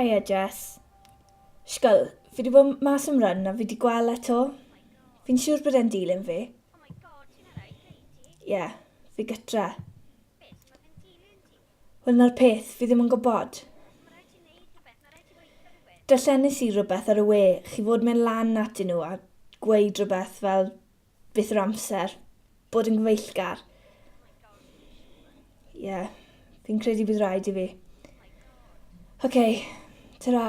Hiya Jess. Sgol, fi wedi bod mas am run a fi wedi gweld eto. Fi'n siŵr bod e'n dilyn fi. Ie, yeah, fi gytra. Wel, 'na'r peth, fi ddim yn gwybod. Darllenis i rywbeth ar y we, chi fod mynd lan atyn nhw a gweud rhywbeth fel beth yw'r amser, bod yn gyfeillgar. Ie, yeah, fi'n credu bydd rhaid i fi. OK, ta-ra.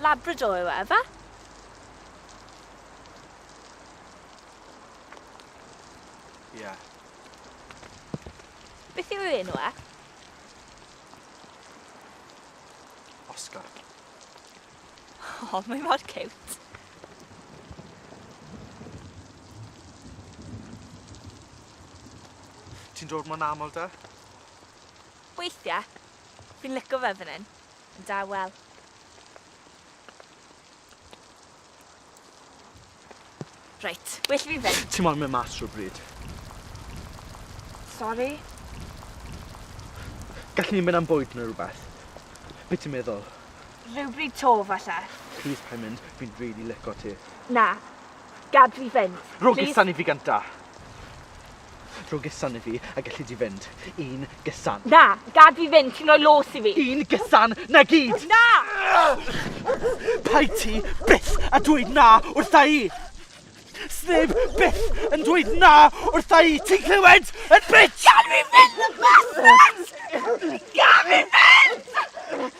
Labrador yw e, efe? Ie. Yeah. Beth yw ei enw e? Oscar. O, oh, mae mor cute. Ti'n dod mo'n aml da? Weithiau. Fi'n lico fe fan hyn. Yn dawel. Reit, well i fi fynd. Ti moyn mynd mas rhywbryd? Sori? Gallen ni mynd am bwyd neu rhywbeth? Be ti'n meddwl? Rhywbryd 'to, falle. Plîs paid mynd, fi'n rili lico ti. Na. Gad fi fynd. Rhowch i sani fi gynta. Rho gesan i fi a gelli di fynd. Un gesan. Na, gad fi fynd, ti'n rhoi los i fi. Un gesan, na gyd! Na! Paid ti byth a dweud na wrtha i! Sneb byth yn dweud na wrtha i, ti'n clywed? Yn bitch! Gad fi fynd, y bastard! Gad fi fynd!